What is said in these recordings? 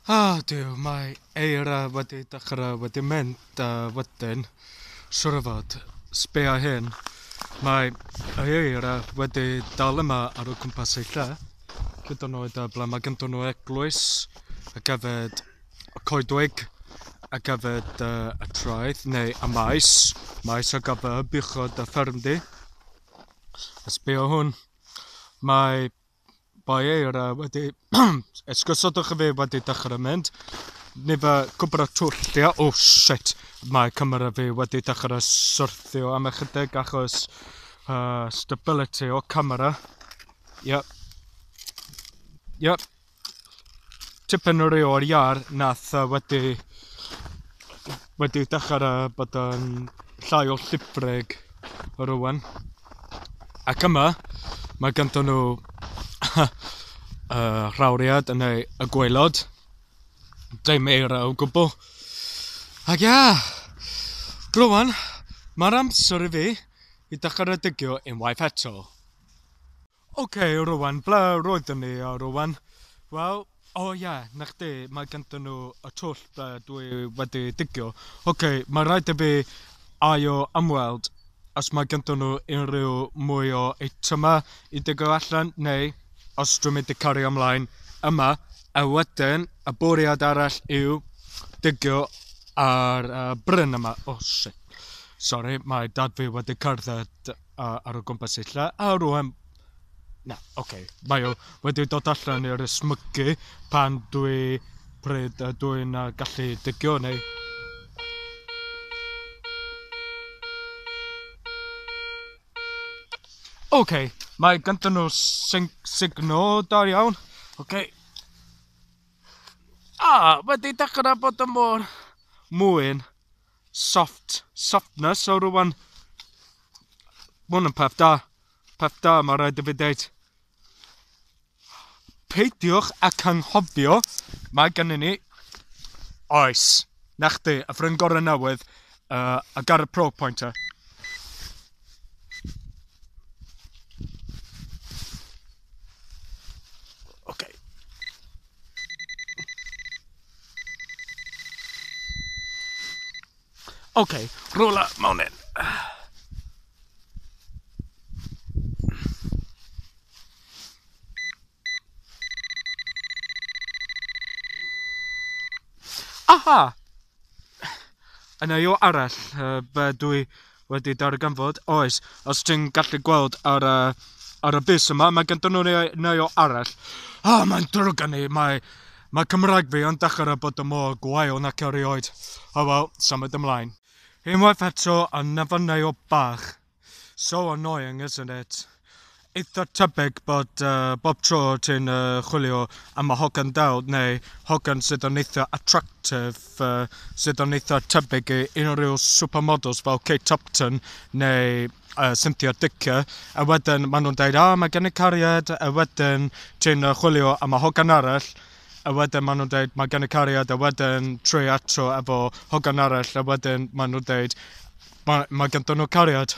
Ah Duw, mae eira wedi dechrau wedi mynd a wedyn, siŵr o fod, sbia hyn, mae ei eira wedi dal yma ar o cwmpas ei lle, hyd yn oed ble mae ganddo nhw eglwys ac hefyd y coedwig ac hefyd y, y traeth neu y maes, maes o gafr, buchod a ffermdy. A sbia hwn, mae Bye eira wedi... Esgusodwch y fe wedi dechrau mynd. Ni fe gwybod y twllio. Oh shit! Mae camera fi wedi dechrau syrthio am ychydig achos uh, stability o camera. Yep. Yep. tipyn o rei o'r iar nath uh, wedi wedi dechrau uh, bod yn llai o llibreg o rwan. Ac yma, mae gyda nhw uh, rhawriad yn ei y gwaelod. Dim eira o gwbl. Ac ia, glwan, mae'r amser i fi i dechrau digio unwaith eto. Ok, Rowan, ble roeddwn ni, Rowan? Wel, o ie, 'na chdi, mae ganddyn nhw y twll ble dw i wedi digio. Ok, mae'n rhaid i fi ail ymweld os mae ganddyn nhw unrhyw mwy o eitemau i digio allan, neu os dwi'n mynd i cario ymlaen yma, a wedyn y bwriad arall yw digio ar y bryn yma. O shit, sori, mae dad fi wedi cerdded. a ar o gwmpas y lle a rŵan na ocê mae o wedi dod allan i'r ysmygu pan dwi pryd a dwi'n uh, gallu dygio neu Oce, okay, mae ganddyn nhw signo da iawn. Oce. Okay. Ah, wedi dechrau bod yn mor mwyn. soft softness so rwan ma' hwn yn peth da peth da ma' raid i fi deud peidiwch a canghofio mae gennym ni oes 'na chdi y ffrind gorau newydd uh, I got a pro pointer okay Ok, rola mewn hyn. Aha! Yna yw arall, uh, dwi wedi darganfod, oes, os ti'n gallu gweld ar y, ar y bus yma, mae gyda nhw neu, neu o arall. O, oh, mae'n drwg gan i, mae, mae Cymraeg fi yn dechrau bod y mor gwael nac erioed. O oh, wel, symud ymlaen. Unwaith eto, a nefynnau o bach. So annoying, isn't it? Eitha tebyg bod bob tro ti'n chwilio am y hogan del neu hogan sydd yn eitha attractive sydd yn eitha tebyg i unrhyw supermodels fel Kate Upton neu Cynthia Dicker a wedyn maen nhw'n deud "o mae gen i cariad" a wedyn ti'n chwilio am y hogan arall a wedyn maen nhw'n deud "mae gen i cariad" a wedyn tri eto efo hogan arall a wedyn maen nhw'n deud "mae mae ganddyn nhw cariad".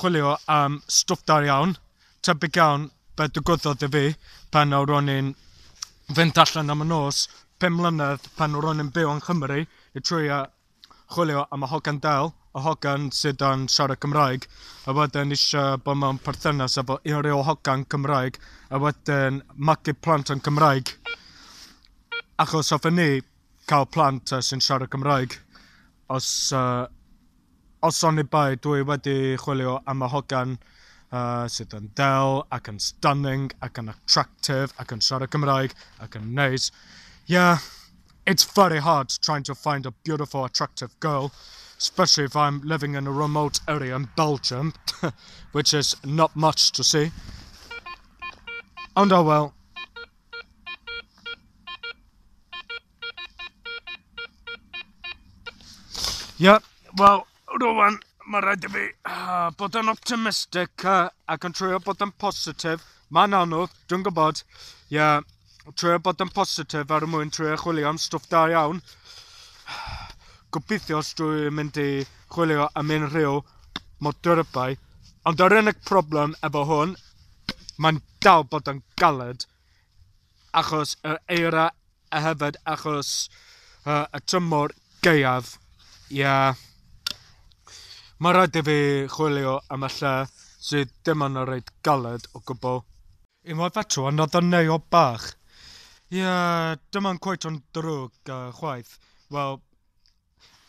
chwilio am stwff da iawn, tebyg iawn be ddigwyddodd i fi pan nawr o'n i'n fynd allan am y nos, pum mlynedd pan nawr o'n i'n byw yn Nghymru, i trwyo chwilio am y hogan del, y hogan sydd yn siarad Cymraeg, a wedyn eisiau bod mewn perthynas efo unrhyw hogan Cymraeg, a wedyn magu plant yn Cymraeg. Achos hoffen ni cael plant uh, sy'n siarad Cymraeg. Os uh, Os oni bai, dw i wedi chwilio am y hogan sydd yn del ac yn stunning ac yn attractive ac yn siarad Cymraeg ac yn neis. Yeah, it's very hard trying to find a beautiful attractive girl, especially if I'm living in a remote area in Belgium, which is not much to see. Ond oh well. Ie, wel, rwan, mae rhaid i fi uh, bod yn optimistic uh, ac yn trwy'r bod yn positif. Mae'n anodd, dwi'n gwybod. Ie, yeah, trwy'r bod yn positif ar y mwyn trwy'r chwilio am stwff da iawn. Gobeithio os dwi'n mynd i chwilio am unrhyw modyrybau. Ond yr unig problem efo hwn, mae'n dal bod yn galed. achos yr eira a hefyd achos yy y tymor gaeaf. Ie. Mae'n rhaid i fi chwilio am y lle sydd dim yn y reit galed o gwbl. Unwaith eto, another neo bach. Ie, dim yn cweit yn ddrwg yy chwaith. Wel,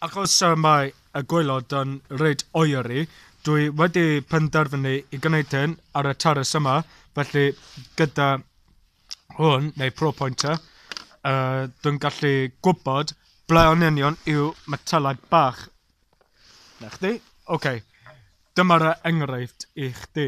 Ac os y mae y gwaelod yn reit oeri, dwi wedi penderfynu i gwneud hyn ar y terrace yma, felly gyda hwn, neu pro pointer, uh, dwi'n gallu gwybod ble o'n union yw metelau bach. Na chdi? Oce. Okay. Dyma'r enghraifft i chdi.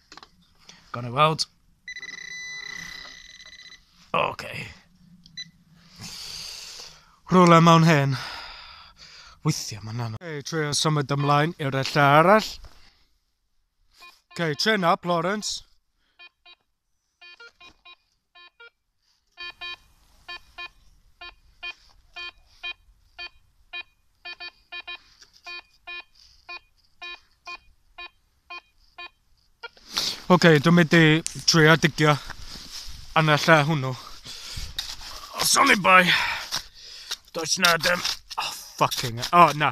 Gawn ni weld. Ok. Rhywle mewn hen. Weithiau mae'n anodd. Ok, trio symud ymlaen i'r lle arall. Ok, chin up, Lawrence. Ok, dwi'n mynd i trio digio yn y lle hwnnw. Os o'n i'n bai, does na ddim... Oh, fucking... Oh, na.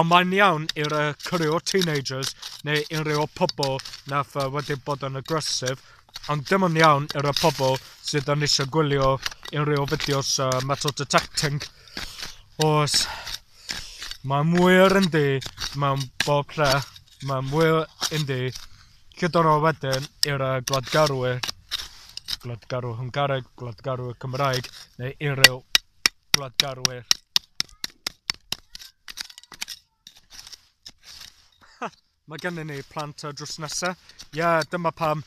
Ond mae'n iawn i'r yy cwrywr teenagers neu unrhyw o'r pobl na'th yy wedi bod yn aggressive ond dim yn iawn i'r y pobl sydd yn eisiau gwylio unrhyw fideos uh, metal detecting os mae mwyr yndi mewn bob lle mae mwyr yndi gyda'r o wedyn i'r uh, gwladgarwyr gwladgarwr Hwngareg, gwladgarwr Cymraeg neu unrhyw gwladgarwyr. Mae gennym ni plant ar drws nesaf. Ie, yeah, dyma pam.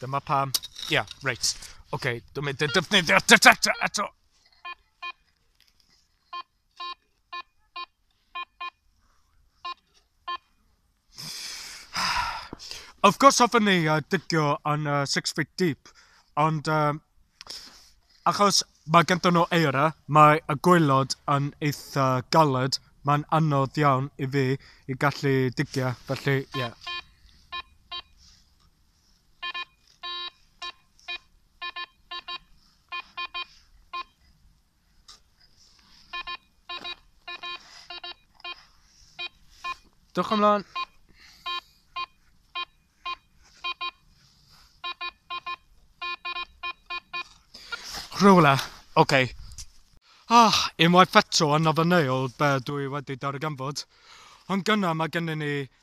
Dyma pam. Ie, yeah, reit. Oce, okay, dwi'n mynd i defnyddio detector eto. Of course hoffwn ni yy digio yn yy six feet deep, ond yym achos ma' genddyn nhw eira, mae y gwaelod yn eitha galed, mae'n anodd iawn i fi i gallu digio, felly ie. Dwch ymlaen. Rhywle. Oce. Okay. Ah, unwaith eto yn ofynneuol be dwi wedi darganfod. Ond gyna mae gennym ni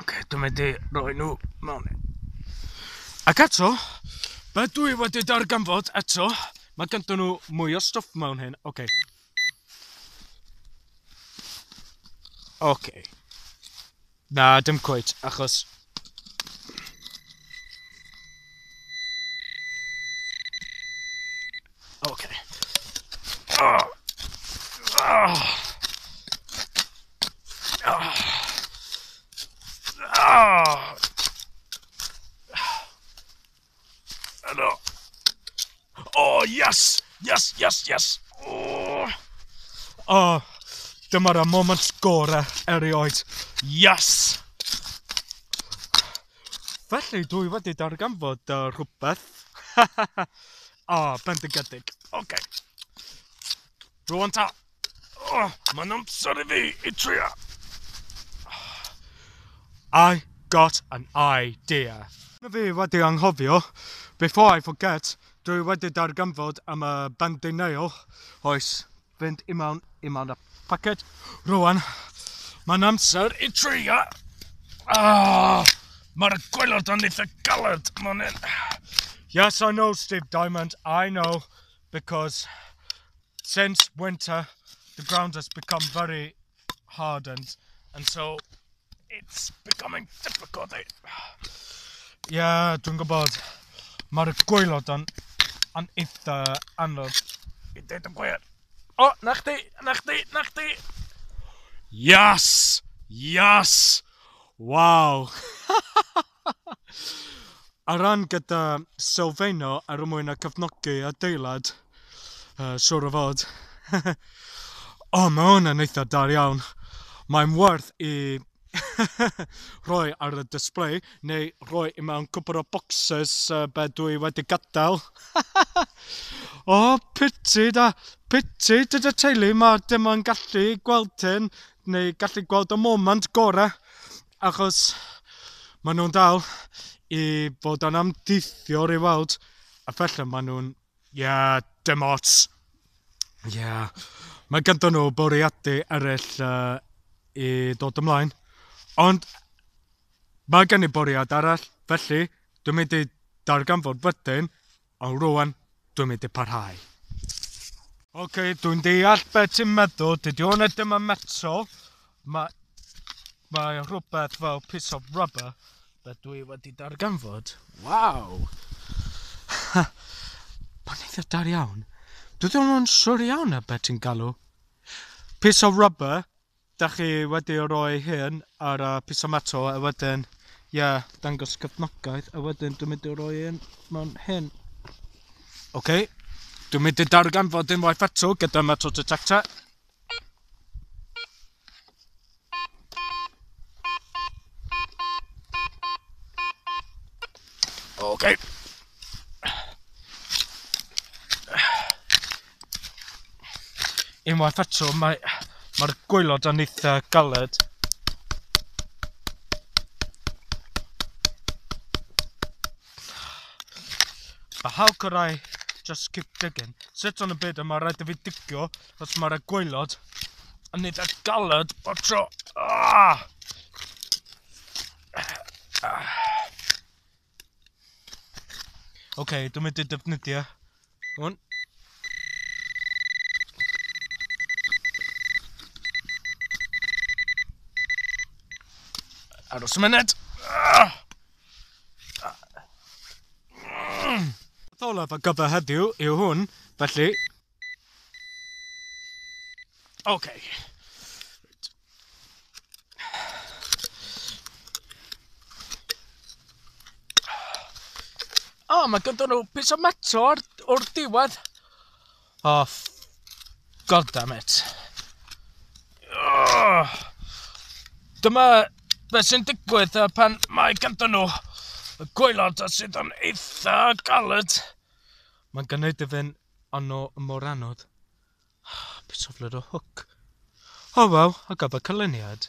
Ok, dwi'n mynd i roi nhw mewn. Ac eto, be dwi wedi darganfod eto, mae gyda nhw mwy o stwff mewn hyn. Ok. Ok. Na, dim cweit, achos Helo. O, yes! Yes, yes, yes! O! O, dyma'r y moment gorau erioed. Yes! Felly, dwi wedi darganfod uh, rhywbeth. o, bendigedig. Oce. Okay. Rwan ta. Oh, mae'n amser i fi i trio. I got an idea. Mae fi wedi anghofio, before I forget, dwi wedi darganfod am y bendy nail. Oes, fynd i mewn, i mewn y packet. Rwan, mae'n amser i trio. Ah, mae'r gwylod yn eitha galed, mae'n hyn. Yes, I know, Steve Diamond, I know, because since winter, the ground has become very hardened, and so it's becoming difficult. Ie, yeah, dwi'n gwybod. Mae'r gwaelod yn, yn eitha anodd i dweud y gwir. O, na chdi, na chdi, na chdi! Yes! Yes! Wow! Ar ran gyda sylfaeno ar y mwyn a cyfnogi adeilad. Uh, siwr o fod. o, oh, mae hwn yn eitha dar iawn. Mae'n werth i rhoi ar y display neu rhoi i mewn cwpr o boxes uh, be dwi wedi gadael. o, oh, piti da, piti dyda teulu, mae dim ond gallu gweld hyn neu gallu gweld y moment gorau Achos maen nhw'n dal i fod yn amddiffywiol i weld, a falle maen nhw'n... ie, dim ots. Ie. Mae ganddyn nhw bwriadau eraill yy i ddod ymlaen, ond mae gen i bwriad arall, felly dwi'n mynd i darganfod wedyn O rwan dwi'n mynd i parhau. Ok, dwi'n deall beth ti'n meddwl, dydy hwnna ddim yn metal, mae, mae rhywbeth fel piece of rubber, be dwi wedi darganfod. Waw! Mae'n eitha dar iawn. Dwi ddim yn siwr iawn ar beth ti'n galw. Piece of rubber, Dach chi wedi roi hyn ar y piece metal a wedyn, ie, yeah, dangos cefnogaeth a wedyn dwi'n mynd i roi hyn mewn hyn. Oce, okay. dwi'n mynd i darganfod unwaith eto gyda metal detector. Oce. Okay. Unwaith eto, mae, mae'r gwaelod yn eitha galed. But how could I just keep digging? Sit on y byd yma, rhaid i fi digio, os mae'r gwaelod yn eitha galed o tro. Ah! Oce, okay, dwi'n mynd i defnyddio hwn. Aros y myned. Beth olaf ar gyfer heddiw yw hwn, felly Ok. Reit. O, oh, mae gyda nhw pys o meto o'r, or diwedd. O, oh, god damn it. Oh. Dyma beth sy'n digwydd pan mae gyda nhw y gwaelod sydd yn eitha galed. Mae'n gynnydd i fynd Ond no mor anodd. Bit of little hook. O waw, a gaba canlyniad.